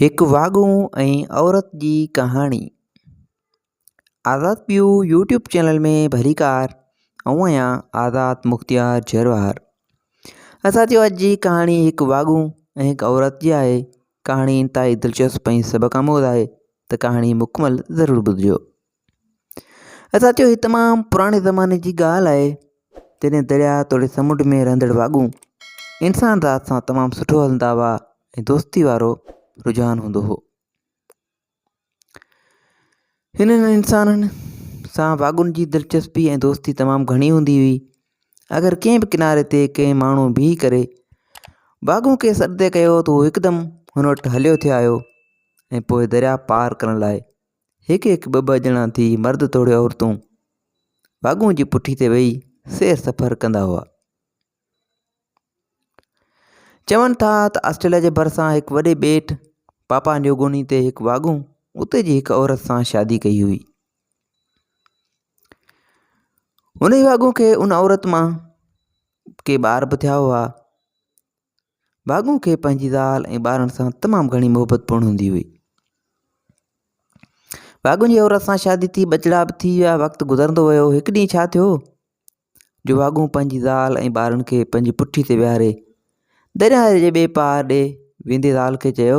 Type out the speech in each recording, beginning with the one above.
هڪ واڳون ۽ عورت جي ڪهاڻي آزاد پيو يوٽيوب چينل ۾ ڀليڪار آئون آهيان آزاد مختيار جروار اسان جو اڄ جي ڪهاڻي هڪ واڳون ۽ هڪ عورت جي آهي ڪهاڻي انتهائي دلچسپ ۽ سبق آموز آهي ته ڪهاڻي مڪمل ضرور ٻڌجو اسان چيو هي تمام پراڻي زماني جي ڳالهه آهي جڏهن درياء توڙي سمنڊ ۾ رهندڙ واڳون انسان ذات سان تمام سٺو هلندا هئا ۽ دوستي وارو رجحان هوندو هو هنن انسانن سان واڳون جي دلچسپي ۽ دوستي تمام گهڻي هوندي هئي اگر ڪنهن به ڪناري تي ڪنهن ماڻهو بيهي ڪري واڳون کي سڏندي ڪيو ته هو هڪدم هن وٽ هليو ٿي آيو ۽ پوء درياء پار ڪرڻ لاء هڪ هڪ ٻه ٻه ڄڻا ٿي مرد توڙي عورتون واڳون جي پٺي تي ويهي سير سفر ڪندا هئا. چون ٿا ته آسٽريليا جي ڀرسان هڪ وڏي ٻيٽ پاپا نيوگوني تي هڪ واڳون اتي جي هڪ عورت سان شادي ڪئي هئي ان واڳون کي ان عورت مان ڪي ٻار به ٿيا هئا ڀاڳو کي پنهنجي زال ۽ ٻارن سان تمام گهڻي محبت پڻ هوندي هئي ڀاڳو جي عورت سان شادي ٿي ٻچڙا به ٿي ويا وقت گذرندو ويو هڪ ڏينهن ڇا ٿيو جو ڀاڳو پنهنجي زال ۽ ٻارن کي پنهنجي پٺي تي ويهاري درياء جي ٻئي پار ڏي ويندي زال کي چيو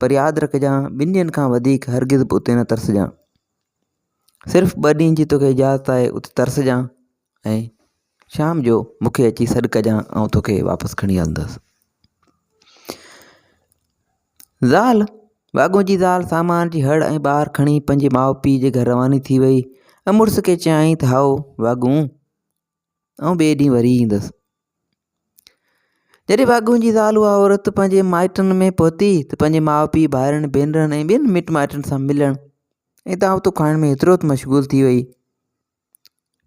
پر ياد رکجان ٻن ڏينهن کان وڌيڪ هرگز به اتي نه ترسجان صرف ٻه ڏينهن جي توکي اجازت آهي اتي ترسجان ۽ شام جو مونکي اچي سڏ ڪجان آئون توکي واپس کڻي هلندس زال واڳون جي زال سامان جي هڙ ۽ ٻار کڻي پنهنجي ماء پيء جي گهر رواني ٿي وئي ۽ مڙس کي چيائين ته هائو واڳون آئون ٻئي ڏينهن وري ايندس. جڏهن ڀاڳون جي زال اها عورت پنهنجي مائٽن ۾ پهتي ته پنهنجي ماء پيء ڀائرن ڀينرن ۽ ٻين مٽ مائٽن سان ملڻ ۽ دعوتون کائڻ ۾ ايترو ته مشغول ٿي وئي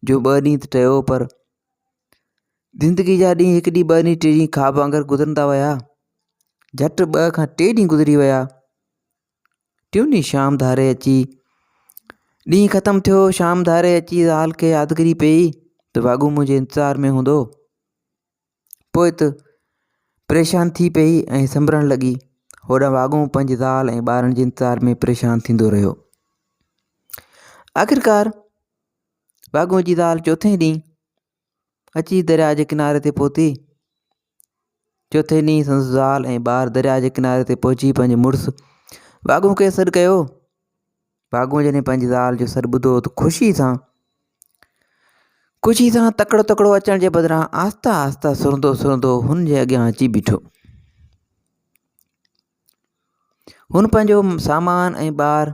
جو ٻه ڏينهن ته ٽيو پر زندگي جا ڏينهن هڪ ڏينهن ٻه ڏينهن ٽي ڏينهن خواب وانگر گذرندا ويا جٽ ٻه کان ٽي ڏينهن گذري ويا ٽيون ئي شام ڌاري اچي ڏينهن ختم ٿيو شام ڌاري اچي زال کي يادگري پئي ته واڳو منهنجي انتظار ۾ هوندو پوء ته پريشان ٿي پئي ۽ سنبرڻ لڳي هوڏانهن واڳو پنهنجي زال ۽ ٻارن جي انتظار ۾ پريشان ٿيندو رهيو آخرڪار واڳو جي زال چوٿين ڏينهن اچي درياء جي ڪناري تي پهتي. چوٿين ڏينهن سندس زال ۽ ٻار درياء جي ڪناري تي پهچي پنهنجي مڙس ڀاڳون کي سڏ ڪيو. ڀاڳون جڏهن پنهنجي زال جو سڏ ٻڌو ته خوشي سان خوشي سان تڪڙو تڪڙو اچڻ جي بدران آهسته آهسته سرندو سرندو هن جي اڳيان اچي بيٺو هن پنهنجو سامان ۽ ٻار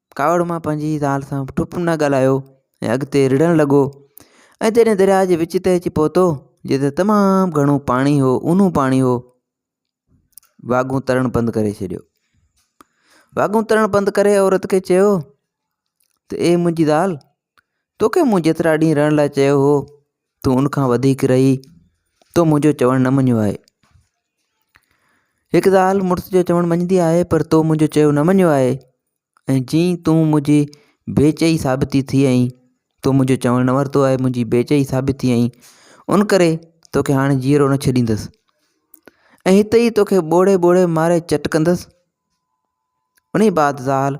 ڪاوڙ مان پنهنجي زال سان به ٺپ نه ڳالهايو ۽ اڳتي رڙهڻ لڳو ۽ جڏهن درياء جي وچ تي اچي پهتو جتي تمام گهڻو پاڻي هو اونو پاڻي هو واڳون ترڻ بند ڪري ڇڏيو واڳون ترڻ بند ڪري عورت کي چيو ته اي منهنجي زال توکي مون جيترا ڏينهن رهڻ لاء چيو هو، تون ان کان وڌيڪ رهي، تو منهنجو چوڻ نه مڃيو آهي. هڪ زال مڙس جو چوڻ مڃيندي آهي، پر تو منهنجو چيو نه مڃيو آهي ۽ جي تون منهنجي بي چئي ثابتي ٿي آئين، تو منهنجو چوڻ نه ورتو آهي، منهنجي بي چئي ثابت ٿي آئين، ان ڪري توکي هاڻي جيئرو نه ڇڏيندس ۽ هتي ئي توکي ٻوڙي ٻوڙي ماري چٽ ڪندس. انهيء بعد زال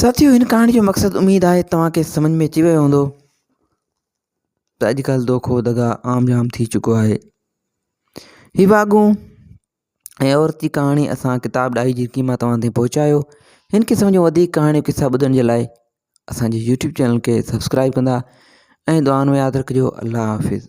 ساٿيو هن ڪهاڻي جو مقصد اميد آهي توهان کي سمجھ ۾ اچي ويو هوندو ته اڄڪلھ دوکو دغا عام جام ٿي چڪو آهي هي واڳون ۽ عورتي ڪهاڻي اسان ڪتاب ڏاهي جرڪي مان توهان تائين پهچايو هن قسم جون وڌيڪ ڪهاڻيون قصا ٻڌڻ جي لاء اسان جي يوٽيوب چينل کي سبسڪرائب ڪندا ۽ دعائن ۾ ياد رکجو الله حافظ